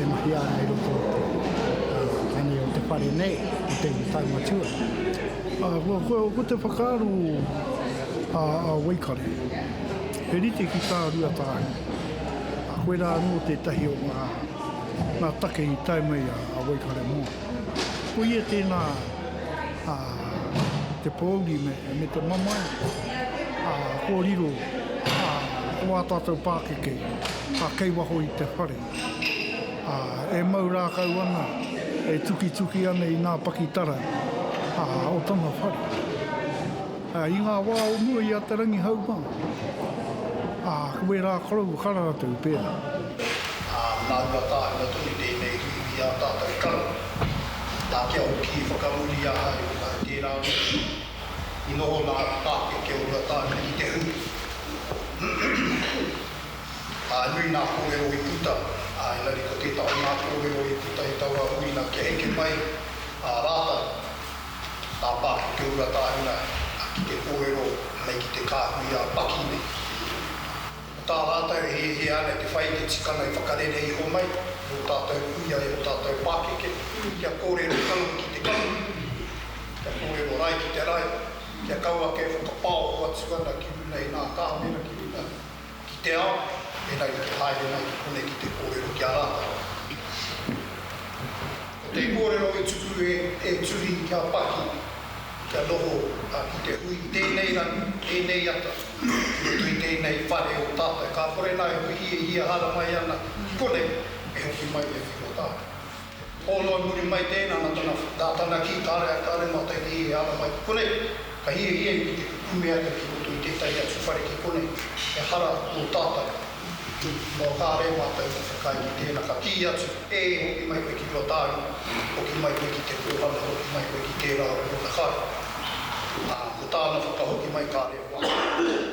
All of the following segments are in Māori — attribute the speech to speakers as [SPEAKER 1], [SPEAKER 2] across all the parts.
[SPEAKER 1] e mahia ana i roto i te tani o te whare nei, o te iwi taunga tua. Ā, ko te whakaaro a Waikare, he rite ki tā Rua Tāhi, a koe rā anō tētahi o ngā take i tae mai a Waikare Moana. Ko ia tēnā te pōuri me te mamae kōrero o ā tātou pākeke kei waho i te whare. ā, e mau rākau ana, e tukituki ana i ngā pakitara, ā, o tana whare. Ā, i ngā wā o mua i a Te Rangihaunga, ā, ko ērā korou ka ratou pērā. Ā, nā Ruatāhua tonu tēnei uiui ā tātou karo, nā kia hoki i whakamuri ahau i ahau tērā motu. I noho nā Pākeke o Ruatāhua ki te hū. Nui ngā kōrero i puta, ā, engari ko tētahi o ngā kōrero i puta i taua huringa kia eke mai ā rātou ngā pākeke o Rua Tāhuna ki te kōrero me ki te kāhui ā Paki nei. Ko tā rātou e hiahia ana te whai i te tikanga i whakarere iho mai i ō tātou kuia, i ō tātou pākeke, kia kōrero kaua ki te kaua, kia kōrero rae ki te rae, kia kaua ake e whakapaoho atu ana ki runga i ngā kāmera, ki runga. ki te ao, engari kia haere mai ki konei ki te kōrero ki a rātou. Ko te kōrero i tuku e te tuhi kia paki, kia noho, ā, ki te hui i tēnei rangi, tēnei ata, i roto i tēnei whare o tātou. Ka kore nā e whiwhi e hia hara mai ana ki konei, e hoki mai ia ki rō tātou. Hō noa muri mai tēnā nā tana whakatana ki kāre ai kāre mātou ki hē ara mai ki konei. Ka hiahia i te kukume ake ki roto i tētahi atu whare ki konei, ehara nō tātou. Noa kāre mātou i whakaae ki tēnā, ka kī atu, ē, hoki mai koe ki Ruatāhuna, hoki mai koe ki Te Kōhanga, hoki mai koe ki tērā o ōna kāre. Ā, ko tāna whakahoki mai kāre e wā.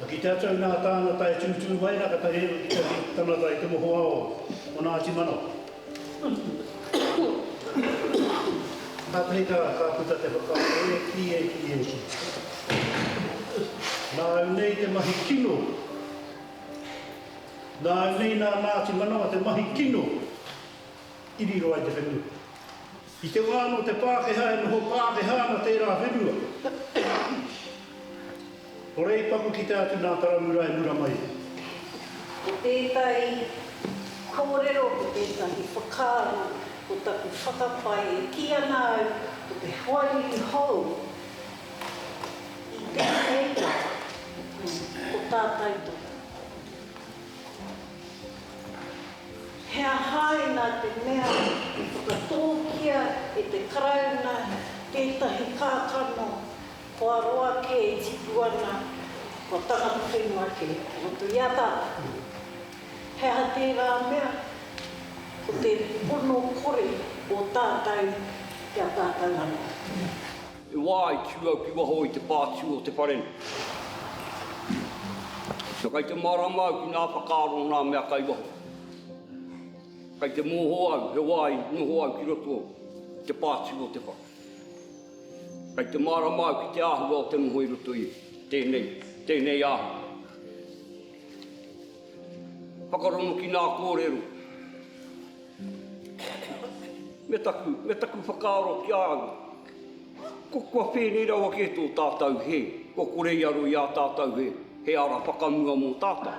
[SPEAKER 1] Ka kite atu au i ngā tāngata e tūtū mai ana ka tahi atu ki te tangata i te mohoao o Ngāti Manawa. Kātahi ka puta te whakaaro e kī, e kī, e kī. Nā au nei te mahi kino. Nā au nei nā Ngāti Manawa te mahi kino i riro ai te whenua. I te wā anō te Pākehā e noho Pākehā ana tērā whenua, ko Reipaku kite atu nā Taramura e mura mai ai. Ko tētahi kōrero, ko tētahi whakaaro, ko taku whakapae e kī ana au ko te hoariri hou i tēnei wā, ko tā tautoko. He aha inā te mea i whakatōkia e te Karauna tētahi kākano kua roa kē e tipu ana, kua tangata whenua kē i roto i a tātou? He aha tērā mea ko te pono kore o tātou ki a tātou anō? He wā i tū au ki waho i te pā tū o te wharenu. Na kai te mārama au ki nā whakaaro o nā mea kai waho. Kai te mōhō au he wā i noho au ki roto i te pā tū o te whare. Kai te mārama au ki te āhua o te noho i roto i tēnei, tēnei āhua. Whakarongo ki nā kōrero. Me taku, me taku whakaaro ki a au. Ko kua pēnei rawa kē tō tātau hē, kua kore i aro i ā tātau he, he ara whakamua mō tātau.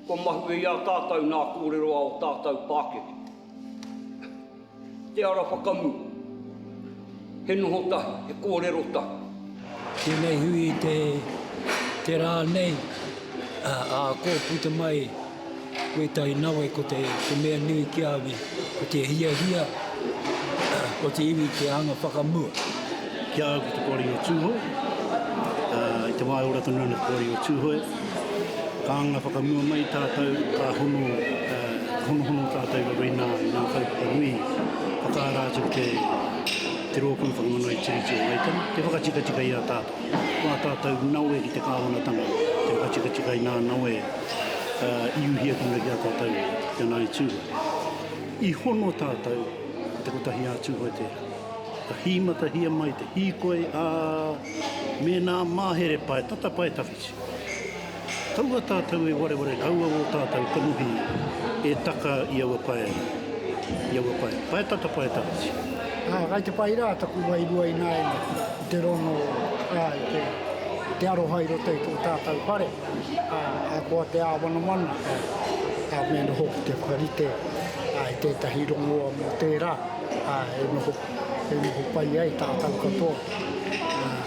[SPEAKER 1] Kua mahue i ā tātau nā kōrero a o tātau pākeke. Te ara whakamua, he noho tahi, he kōrero tahi. Tēnei hui i te te rā nei, ā, kō puta mai wētahi nawe ko te te mea nui ki a au, ko te hiahia o te iwi ki te anga whakamua. Ki a au ko te Poari o Tūhoe, ā, i te wā e ora tonu ana te Poari o Tūhoe, ka anga whakamua mai tātou, ka hono, ā, honohono tātou i roto i nā, i nā kaupapa nui, whakaara atu ki te. Te Rōpū Whakamanao i Tiriti o Waitangi, te whakatikatika i a tātou, ko ā tātou nawe ki te Kāwanatanga, te whakatikatika inā nawe i uhia ki ngaki a tātou ki a Ngāi Tūhoe. I hono tātou ki te kotahi ā Tūhoe tērā. Ka hīmatahia mai te hīkoi, ā, mēnā mahere pae, tata pae tawhiti. Kaua tātou e wareware, kaua ō tātou kanohi e taka i aua pae nei, i aua pae, pae tata, pae tawhiti. Ā, kai te pai rā taku wairua ināianei i te rongo, ā, i te, i te aroha i roto i tō tātou whare, ā, ahakoa te āwanawana, ā, ā, me noho ki te whakarite, ā, i tētahi rongoa mō tērā, ā, e noho, e noho pai ai tātou katoa, ā.